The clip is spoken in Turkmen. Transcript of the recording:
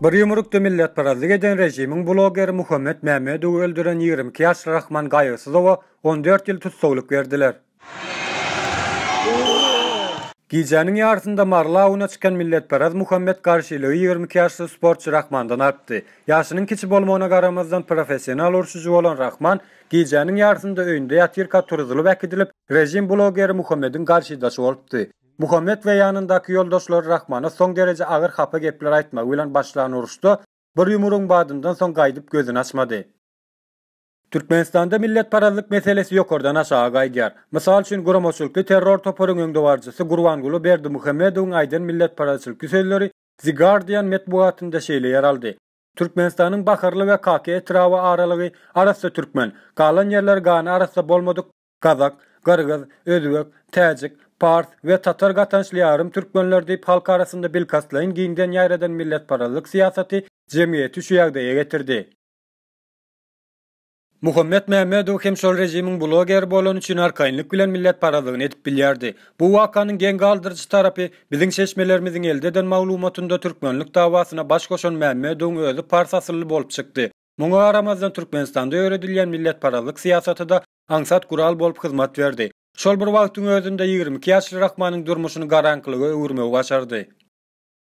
Bir ýumrukda milletparazlyk eden režimiň blogeri Muhammet Mämmedowy öldüren ýigrimi iki ýaşly Rahman Gaýygsyzowa on dört ýyl tussaglyk berdiler. Gijäniň ýarysynda Mary labyna çykan milletparaz Muhammet garşylygy ýigrimi iki ýaşly sportçy Rahmandan alypdy. Ýaşynyň kiçi bolmagyna garamazdan professional urşujy bolan Rahman Gijäniň ýarysynda öýünde ýatyrka turuzylyp äkidilip, režim blogeri Muhammediň garşydaşy bolupdy. Muhammed we ýanyndaky ýoldaşlary Rahmana soň dereje agyr hapa gepler aýtmagy bilen başlan uruşda bir ýumrugyň badyndan soň gaýdyp gözüni açmady. Türkmenistanda milletparazlyk meselesi ýokardan aşaga gaýdýar. Mysal üçin, guramaçylykly terror toparyň öňdebaryjysy Gurbanguly Berdimuhamedowyň aýdan milletparazçylykly sözleri The Guardian metbugatynda şeýle ýer aldy, Türkmenistanyň Baharly we Kaki etraby aralygy arassa türkmen, galan ýerler gany arassa bolmadyk gazak, gyrgyz, özbek, täjik, pars we tatar gatançly ýarym türkmenler diýip halk arasynda bilkastlaýyn giňden ýaýradan milletparazlyk syýasaty jemgyýeti şu ýagdaýa getirdi. Muhammet Mämmedow hem şol režimiň blogeri bolany üçin arkaýynlyk bilen milletparazlygyny edip bilýärdi. Bu wakanyň geň galdyryjy tarapy, biziň çeşmelerimiziň elde eden maglumatynda türkmenlik dawasyna baş goşan Mämmedowyň özi pars asylly bolup çykdy. Muňa garamazdan Türkmenistanda ýöredilýän milletparazlyk syýasaty-da aňsat gural bolup hyzmat berdi. Şol bir wagtyň özünde ýigrimi iki ýaşly Rahmanyň durmuşyny garaňkylyga öwürmegi başardy.